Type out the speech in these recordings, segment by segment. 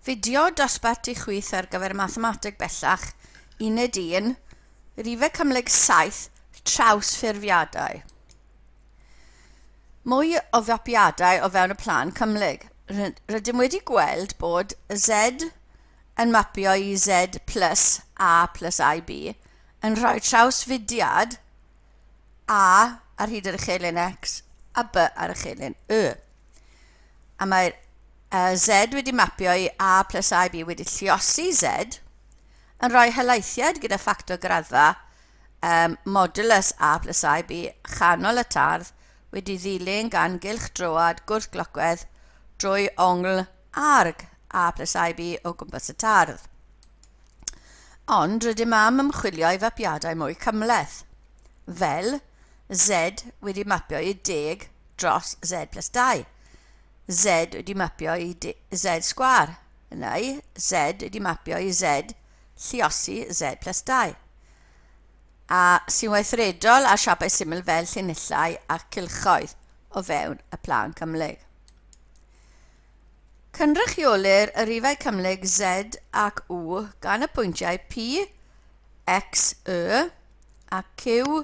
Fideo dosbarthu chwith ar gyfer Mathemateg Bellach, Uned 1, Rhifau Cymhlyg 7, Trawsffurfiadau. Mwy o fapiadau o fewn y plan cymhlyg. Rydym wedi gweld bod Z yn mapio i Z plus A plus IB yn rhoi trawsfudiad A ar hyd yr uchelyn X a B ar uchelyn Y. A mae'r A, Z wedi mapio i A plus AB wedi lliosi Z, yn rhoi helaethiad gyda ffactor graddfa um, modulus A plus AB chanol y tardd wedi ddilyn gan gylch droad gwrthglocwedd drwy ongl arg A plus AB o gwmpas y tardd. Ond rydym am ymchwilio i fapiadau mwy cymleth, fel Z wedi mapio i deg dros Z plus 2. Z wedi mapio i Z sgwar, neu Z wedi mapio i Z lliosi Z plus 2. A sy'n weithredol ar siapau syml fel llinellau a cylchoedd o fewn y plan cymhlyg. Cynrychiolir y rifau cymhlyg Z ac U gan y pwyntiau P, X, Y a Q,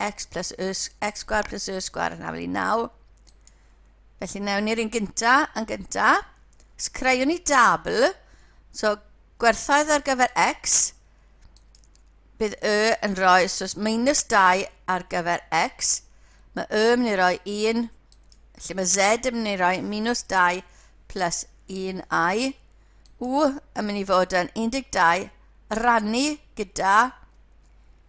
x plus y, x sgwar plus y sgwar yn afel i 9. Felly newn ni'r un gynta yn gynta. Os creuwn ni dabl, so gwerthoedd ar gyfer x, bydd y yn rhoi, so minus 2 ar gyfer x, mae y yn mynd i roi 1, felly mae z yn mynd i roi minus 2 plus 1i, u yn mynd i fod yn 12 rannu gyda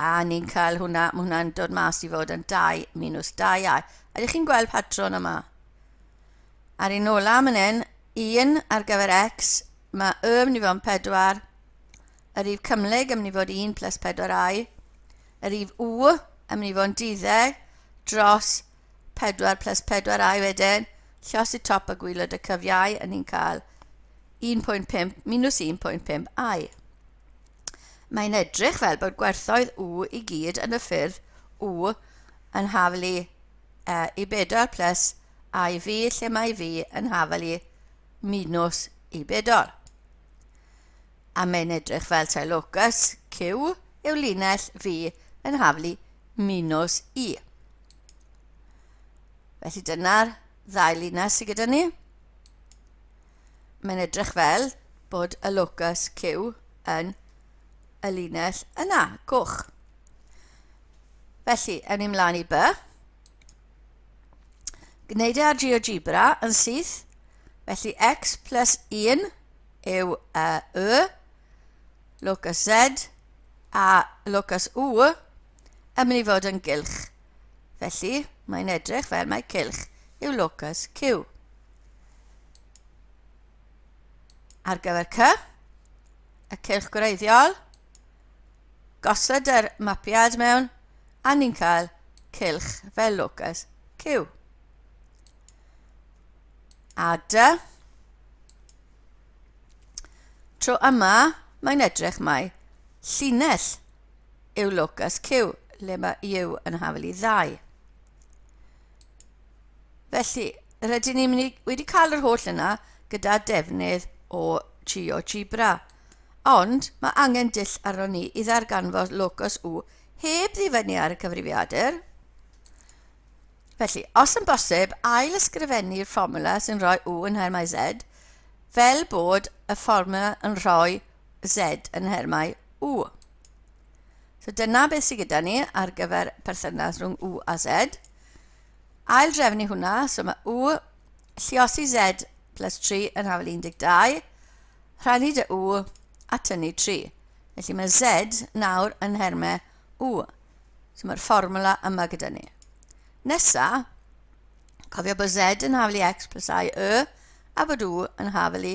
A ni'n cael hwnna, mae hwnna'n dod mas i fod yn 2 minus 2 iau. Ydych chi'n gweld patrwn yma? Ar un ola yn hyn, 1 ar gyfer x, mae y yn mynd i fod yn 4, yr rif cymhlyg yn mynd i fod 1 plus 4i, y rif u yn mynd i fod yn 12 dros 4 plus 4i wedyn, lle os y top y gwylod y cyfiau, yn ni'n cael 1.5 minus 1.5i. mae'n edrych fel bod gwerthoedd u i gyd yn y ffyrdd u yn haflu e i 4 plus a i v lle mae v yn haflu minus i 4. A mae'n edrych fel tae locus q yw linell v yn haflu minus i. Felly dyna'r ddau linell sydd gyda ni. mae'n edrych fel bod y locus Q yn y linell yna, goch. Felly, ewn ni mlaen i by. Gwneud e ar GeoGebra yn syth. Felly, x plus 1 yw uh, y, locus z, a locus u yn mynd i fod yn gylch. Felly, mae'n edrych fel mae cylch yw locus Q. Ar gyfer C, y cylch gwreiddiol, gosod yr mapiad mewn a ni'n cael cylch fel locus Q. A D, tro yma mae'n edrych mai llinell yw locus Q, le mae U yn hafel i ddau. Felly, rydyn ni wedi cael yr holl yna gyda defnydd o GeoGebra. Ond mae angen dull arno ni i ddarganfod locus U heb ddifynnu ar y cyfrifiadur. Felly, os yn bosib, ail ysgrifennu'r fformula sy'n rhoi U yn nhermau Z, fel bod y fformula yn rhoi Z yn nhermau U. So dyna beth sydd gyda ni ar gyfer perthynas rhwng U a Z. Ail drefnu hwnna, so mae U lliosi Z plus 3 yn hafel 12, rhannu dy U a tynnu 3. Felly mae Z nawr yn nhermau U. So mae'r fformwla yma gyda ni. Nesa, cofio bod Z yn hafel i X plus I, Y, a bod U yn hafel i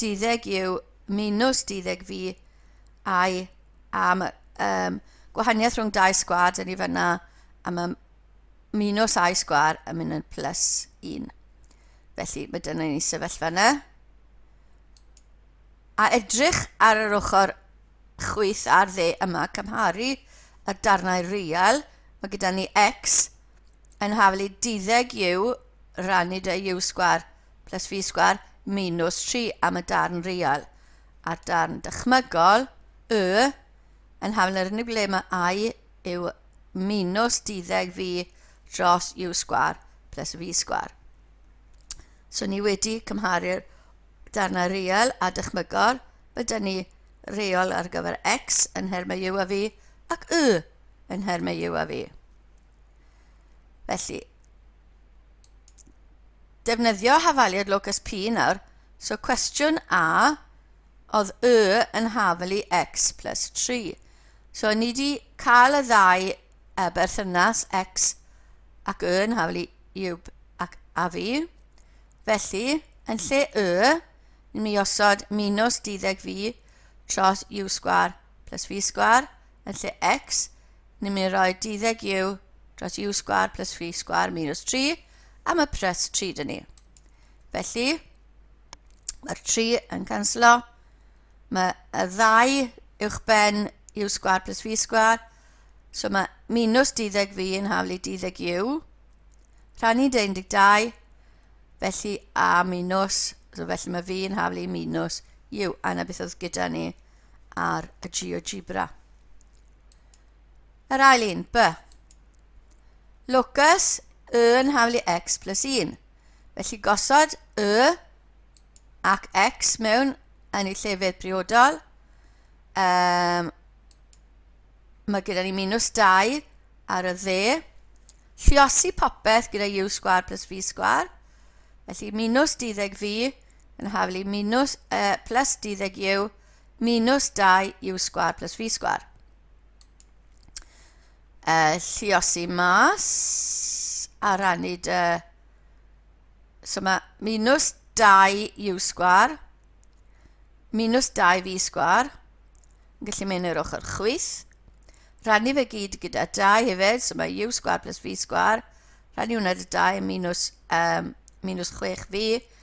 duddeg yw minws duddeg fi ai am um, gwahaniaeth rhwng dau sgwad yn ei fyna a mae minws a'i sgwar yn mynd yn plus 1. Felly mae dyna ni sefyllfa yna. A edrych ar yr ochr chwyth ar dde yma, cymharu y darnau real, mae gyda ni x yn haflu 12 u rannu dy u sgwar plus fi sgwar minus 3 am y darn real, a'r darn dychmygol, y, yn hafn yr unig le mae i yw minus diddeg fi dros u sgwar plus fi sgwar. So ni wedi cymharu'r darnau real a dychmygol, fe dyn ni reol ar gyfer x yn nhermau u a fi ac y yn nhermau u a fi. Felly, defnyddio hafaliad locus P nawr. So cwestiwn A oedd Y yn hafalu X plus 3. So ni wedi cael y ddau uh, berthynas X ac Y yn hafalu Y ac a fi. Felly, yn lle Y, ni'n mynd i osod minus 12 fi tros U sgwar plus v sgwar yn lle x, ni'n mynd i roi deuddeg u dros u sgwar plus v sgwar minus 3, a mae pres 3 dyn ni. Felly, mae'r 3 yn canslo, mae y ddau uwch ben u sgwar plus v sgwar, so mae minus 12 v yn haflu 12 u, rhannu 12, felly a minus, so felly mae v yn haflu minus u, a na beth oedd gyda ni, ar y GeoGebra. Yr ail un, B. Locus y yn haflu x plus 1. Felly gosod y ac x mewn yn ei llefydd priodol. Um, mae gyda ni minus 2 ar y dde. Lliosi popeth gyda u sgwar plus v sgwar. Felly minus 12 fi yn haflu minws y plus 12 yw minws 2 yw sgwar plus fi sgwar. E, lliosi mas a rannu dy... So mae minws 2 yw sgwar, minws 2 fi sgwar, yn gallu mynd i'r ochr chwyth. Rannu fe gyd gyda 2 hefyd, so mae yw sgwar plus fi sgwar. Rannu hwnna dy 2 minws, um, minws 6 fi,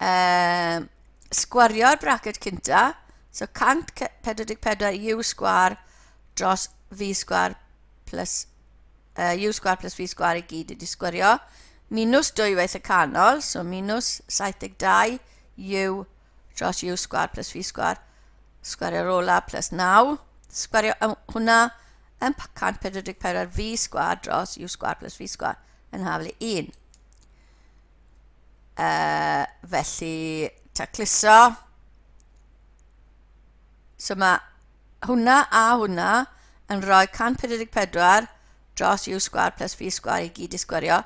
um, sgwario'r bracet cynta, so 144 u sgwar dros v sgwar plus uh, u sgwar plus v sgwar i gyd wedi sgwario, minus dwywaith y canol, so minus 72 u dros u sgwar plus v sgwar, sgwario'r ola plus 9, sgwario hwnna yn 144 v sgwar dros u sgwar plus v sgwar yn haflu 1. uh, felly tacluso. So mae hwnna a hwnna yn rhoi 144 dros u sgwar plus v sgwar i gyd i sgwario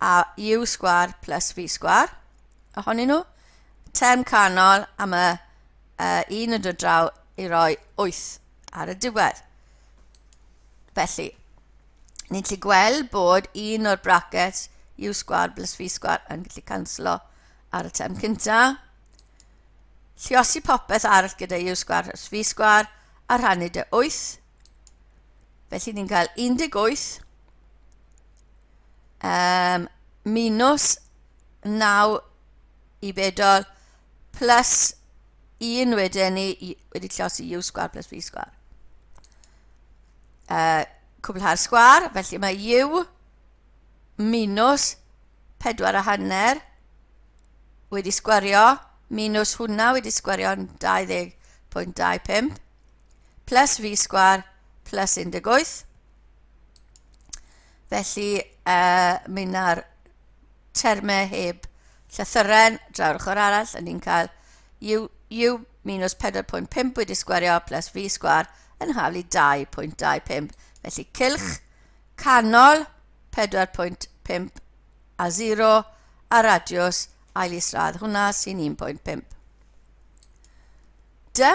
a u sgwar plus v sgwar ohonyn nhw. Term canol am y uh, un yn dod draw i roi 8 ar y diwedd. Felly, Ni'n gallu gweld bod un o'r brackets u sgwar plus v sgwar yn gallu canslo ar y term cynta. Lliosi popeth arall gyda u sgwar plus v sgwar a rhannu dy 8. Felly ni'n cael 18 um, minus 9 i bedol plus 1 wedyn ni wedi llosi u sgwar plus v sgwar. uh, cwblhau'r sgwar, felly mae u minus 4 a hanner wedi sgwario, minus hwnna wedi sgwario yn 20.25, plus fi sgwar plus 18. Felly, uh, mi na'r termau heb llythyren draw'r ochr arall, a ni'n cael u, u minws 4.5 wedi sgwario plus fi sgwar yn haflu 2.25, felly cylch canol 4.5 a 0 a radiws ail isradd hwnna sy'n 1.5. Dy?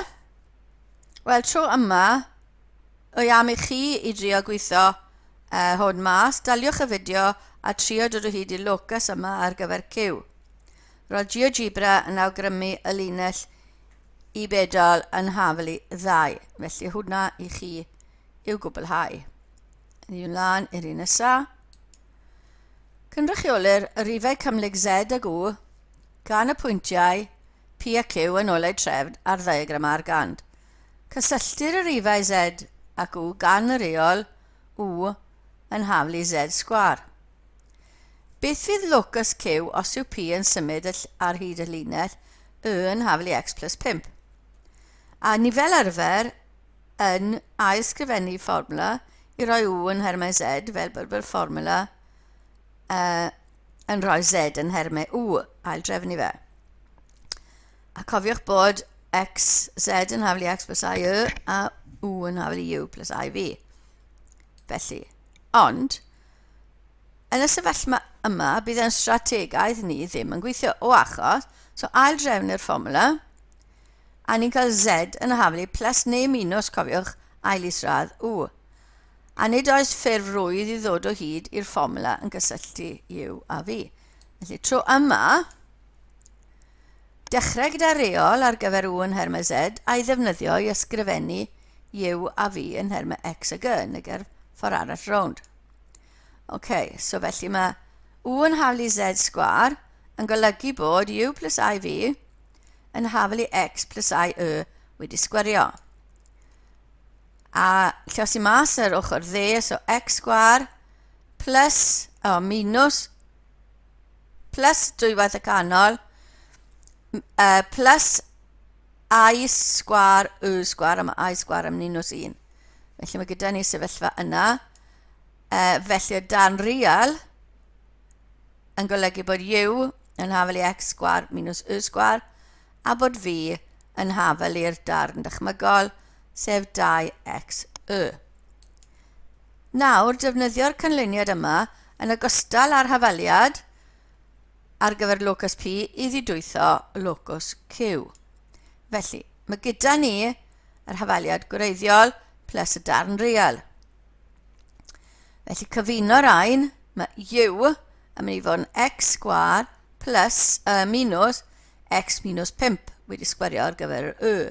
Wel, tro yma, o am i chi i drio gweithio uh, hwn mas, daliwch y fideo a trio dod o hyd i'r locus yma ar gyfer cyw. Roedd GeoGebra yn awgrymu y linell i bedal yn hafel i ddau, felly hwnna i chi i'w gwblhau. Ni yn lan i'r un nesa. Cynrychiolir y rifau cymhlyg Z ag U gan y pwyntiau P a Q yn ôl eu trefn ar ddiagram ar gand. Cysylltir y rifau Z ac U gan y reol U yn haflu Z sgwâr. Beth fydd locus Q os yw P yn symud ar hyd y llinell Y yn haflu X plus 5? A ni fel arfer yn ailsgrifennu fformwla i roi U yn nhermau Z fel bod yr fformwla uh, yn rhoi Z yn nhermau U, aildrefnu fe. A cofiwch bod x, z yn haflu x plus i y a u yn haflu u plus i fi. Felly, ond, yn y sefyllfa yma, bydd yn strategaeth ni ddim yn gweithio o achos, so ail drefn i'r fformula, a ni'n cael z yn haflu plus neu minus, cofiwch, ail isradd u. A nid oes ffurf rwydd i ddod o hyd i'r fformula yn gysylltu u a fi. Felly, tro yma, Dechrau gyda reol ar gyfer u yn nhermau z a'i ddefnyddio i ysgrifennu u a v yn nhermau x a g yn y gerdd ffordd arall rownd. Ok, so felly mae u yn haflu i z sgwar yn golygu bod u plus i v yn haflu i x plus i y wedi sgwario. A lle os i mas yr ochr dde, so x sgwar plus, o, minus plus dwywaith y canol uh, plus i sgwar y sgwar, a mae i sgwar yn minus 1. Felly mae gyda ni sefyllfa yna. Uh, felly y dan real yn golygu bod u yn hafel i x sgwar minus y sgwar, a bod v yn hafel i'r darn dychmygol, sef 2x y. Nawr, defnyddio'r canlyniad yma, yn ogystal â'r hafaliad ar gyfer locus P, i ddidwytho locus Q. Felly, mae gyda ni yr hafaliad gwreiddiol plus y darn real. Felly, cyfuno rhain, mae U yn mynd i fod yn x sgwar plus y minus x minus 5 wedi sgwario ar gyfer yr Y.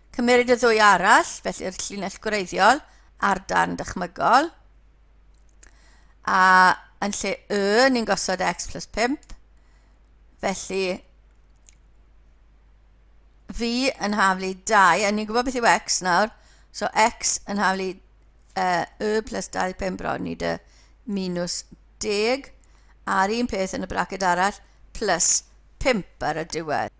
Cymeryd y ddwy arall, felly'r llinell gwreiddiol a'r darn dychmygol. A yn lle y, ni'n gosod x plus 5. Felly, fi yn haflu 2, a ni'n gwybod beth yw x nawr, so x yn haflu uh, y plus 25 bron i dy minus 10, a'r un peth yn y braced arall, plus 5 ar y diwedd.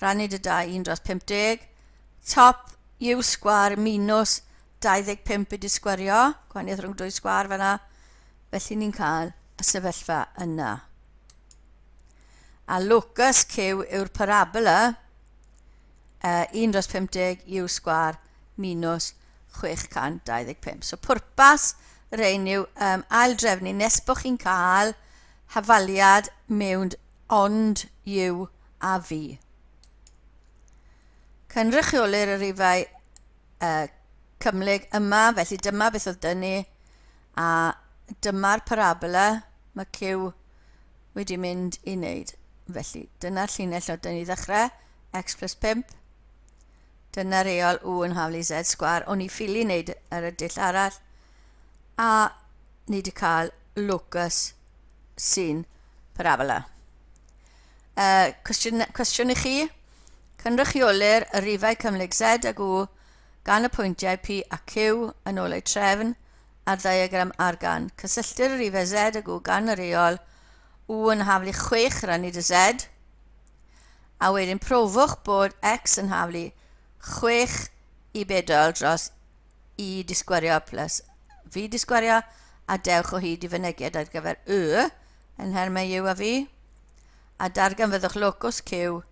rhannu dy dau un dros 50, top yw sgwar minus 25 i disgwario, gwahaniaeth rhwng dwy sgwar fanna, felly ni'n cael y sefyllfa yna. A locus Q yw'r parabola uh, 1 dros 50 yw sgwar minus 625. So pwrpas yr ein yw um, aildrefnu nes bod chi'n cael hafaliad mewn ond you a fi. Cynrychiolir y rifau y cymhlyg yma, felly dyma beth oedd dynu, a dyma'r parabola mae Q wedi mynd i wneud. Felly, dyna'r llinell o dynu ddechrau, x plus 5. Dyna reol u yn haflu z sgwar. O'n i ffili wneud yr ydyll arall, a ni wedi cael locus sy'n parabla. Uh, cwestiwn, cwestiwn i chi, cynrychiolir y rifau cymhlyg Z ag U gan y pwyntiau P a Q yn ôl eu trefn ar ddiagram ar gan. Cysylltir y rifau Z ag U gan yr eol U yn haflu 6 rannu dy Z, a wedyn profwch bod X yn haflu 6 i bedol dros i disgwerio plus fi disgwerio a dewch o hyd i fynegiad ar gyfer y yn nhermau yw a fi a darganfyddwch locws Q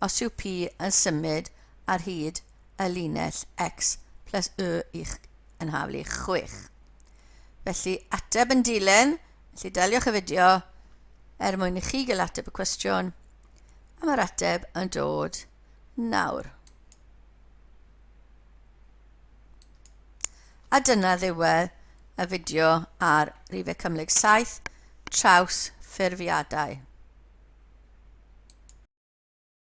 os yw P yn symud ar hyd y linell X plus Y i'ch yn haflu 6. Felly ateb yn dilyn, felly daliwch y fideo er mwyn i chi gael ateb y cwestiwn a mae'r ateb yn dod nawr. A dyna ddiwedd y fideo ar rifau cymhlyg saith trawsffurfiadau.